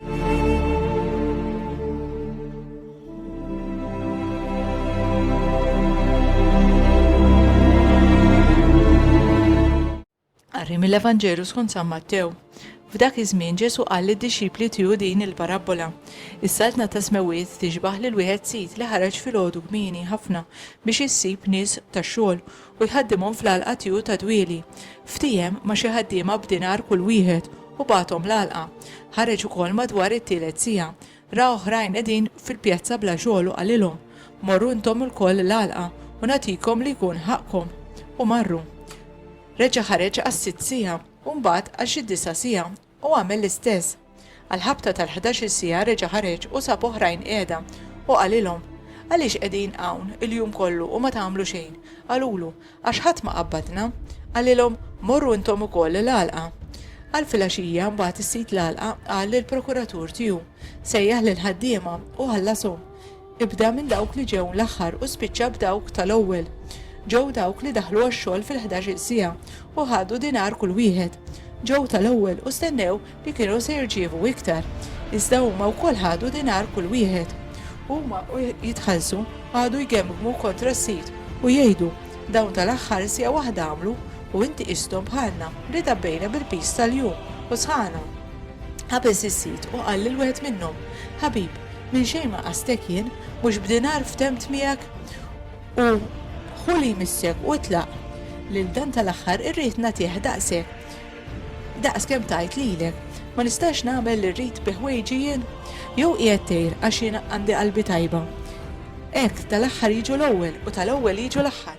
Qari mill-Evanġelu skont San Mattew. F'dak iż-żmien Ġesu qal lid-dixxipli tiegħu din il-parabbola. Is-saltna ta' smewiet tixbaħ lil wieħed sid li ħareġ filgħodu kmieni ħafna biex issib nies tax-xogħol u jħaddimhom fl-għalqa tieghu ta' dwieli. Ftiehem ma' xi ħaddiema b'dinar kull wieħed u bagħathom l-għalqa. Ħareġ ukoll madwar it-tielet siegħa. Ra oħrajn qegħdin fil-pjazza bla xogħol u qalilhom, Morru intom ilkoll l-għalqa u nagħtikom li jkun ħaqqkom. U marru. Reġa' ħareġ għas-sitt siegħa u mbagħad għal xi disa' siegħa Hu għamel l-istess. Għall-ħabta tal-ħdax-il siegħa reġa' ħareġ u sab oħrajn qiegħda, u qalilhom, Għaliex qegħdin hawn il-jum kollu u ma tagħmlu xejn? Qalulu, Għax ħadd ma qabbadna. Qalilhom, Morru intom ukoll l-għalqa. Għal filgħaxija, mbagħad is-sid l-għalqa qal lill-prokuratur tiegħu, Sejjaħ lill-ħaddiema u ħallashom. Ibda minn dawk li ġew l-aħħar u spiċċa b'dawk tal-ewwel. Ġew dawk li daħlu għax-xogħol fil-ħdax-il siegħa u ħadu dinar kull wieħed. Ġew tal-ewwel u stennew li kienu se jirċievu iktar. Iżda huma wkoll ħadu dinar kull wieħed. Huma u jitħallsu qagħdu jgemmgmu kontra s-sid u jgħidu, 'Dawn tal-aħħar siegħa waħda għamlu u inti qisthom bħalna li dabbejna bil-piż tal-jum u sħaqna. Qabeż is-sid u qal lil wieħed minnhom, 'Ħabib, Minn xejn ma qasdtek jien, mhux b'dinar ftemt miegħek? U ħu li jmissek u itlaq, lil dan tal-aħħar irrid nagħtih daqshekk daqs kemm tajt lilek. Ma nistax nagħmel li rrid bi ħwejġi jien? Jew qiegħed tgħir għax jien għandi qalbi tajba? Hekk, tal-aħħar jiġu l-ewwel u tal-ewwel jiġu l-aħħar.